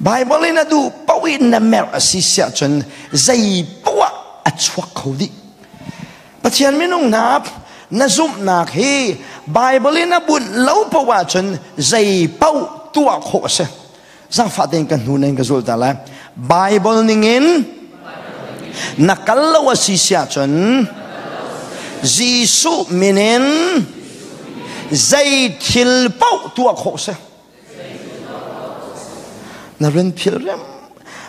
Baibal in a duh paoh in na merh a si siah cun zei paoh ah a chuak kho dih. Pathian minung hna na zumhnak hi Baibal in a bunh lo paoh ah cun zei paoh tuah khawh a si. Zangfah tein kan hnu in ka zul ta lai. Baibal ningin na kal lo a si siah cun Jesuh min in zei thil paoh tuah khawh a si. Na run philh rem.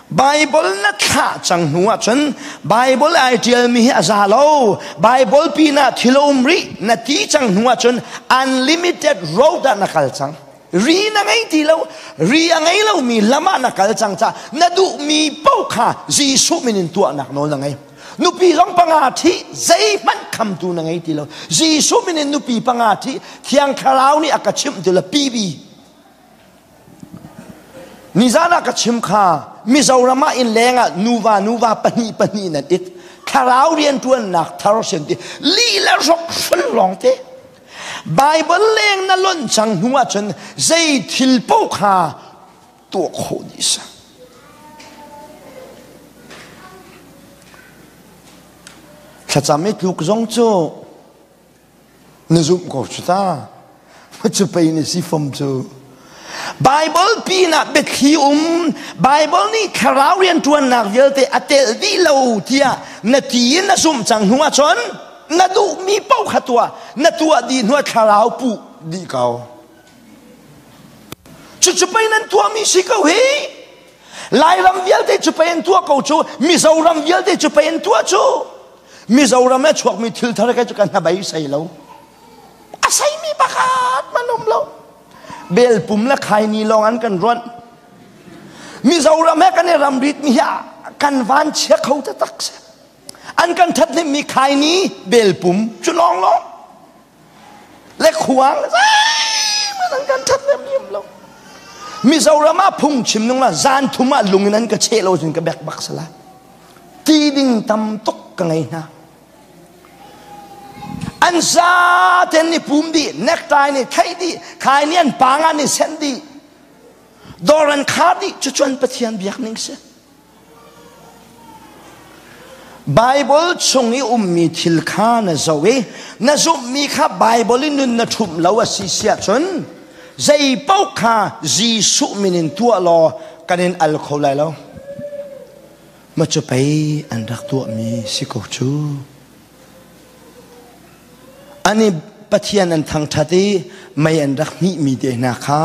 Bible na thlah cang hnu ah cun Bible ai tialmi hi a za lo. Bible pinah thil um rih na ti cang hnu ah cun unlimited road ah na kal cang. Ri na ngei ti lo. Ri a ngei lomi lam ah na kal cang ca. Na duhmi paoh kha Jesuh min in tuahnak nawl na ngei. nupi zong panga ṭhi zeihmanh khamtu na ngei ti lo Jesuh min in nupi panga ṭhi thiang thlarau nih a ka chimh ti lo pibi nizan ah ka chim kha mizoram ah in leng ah nuva nuva pahnih pahnih nan it thlarau rianṭuannak thar sin ti lila rok hrun lawng te Bible leng na lonh cang hnu ah cun zei thil po kha tuah khawh ni a si. Thlacam i tluk zong cu na zumh ko cu ta. Cu pei na si fam cu. Bible pinah biathli um Bible nih thlarau rianṭuannak vialte a tel dih lo tiah na ti in na zumh cang hnu ahcun na duhmi paoh kha tuah na tuah dih hnuah thlarau puh dih ko. Cucu pei nan tuahmi si ko hi. Lairam vialte cu pei an tuah ko cu. Mizoram vialte cu pei an tuah cu. Mizoram e chuakmi thil thar kai cu kan hnabei sei lo. A seimi pakhat man um lo. Belpum le khaini lawng an kan ruanh. Mizoram he kan i ramritmi hi kan van chia kho te tak se. An kan thathnemmi khaini, belpum cu lawng lawng. le khuang zeimang kan ṭhathnem hiam lo Mizoram ah phungchim nung la zan thum ah lung in an ka che lo cun ka bek bak sala ti ding tam tuk ka ngei hna an za ten ni pum di nektai ni thei di khai ni an panga ni sen di dor an khar di cucuan pathian biak ning si Baibal chung i ummi thil kha na zoh i na zumhmi kha Baibal i nun na ṭhumh lo a si siah cun zei paoh kha Jesuh min in tuah law kan in al kho lai lo. Ma cu pei an rak tuahmi si ko cu. An i Pathian an thangṭhat i mei an rak hmihmi te hna kha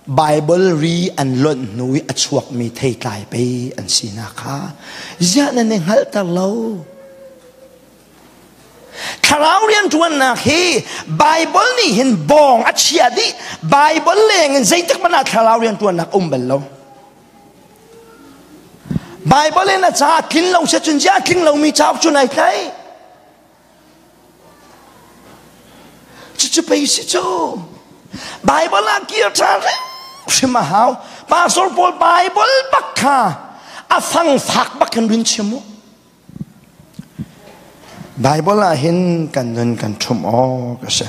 Baibal ri an lonh hnu i a chuakmi theitlai pei an sinak kha ziah nan i hngalhter lo? Thlarau rianṭuannak hi Baibal nih hin bawng a chiah dih. Baibal lengin zeitik hmanh ah thlarau rianṭuannak um bal lo. Baibal in a caah tling lo se cun ziah tling lomi cauk cu nai tlaih? Cucu pei si cu. Bible ah kir ṭhan hrim a hau. Pastor pawl Bible bak kha a fangfak bak in run chim u. Bible ah hin kan nun kan ṭhum awk a si.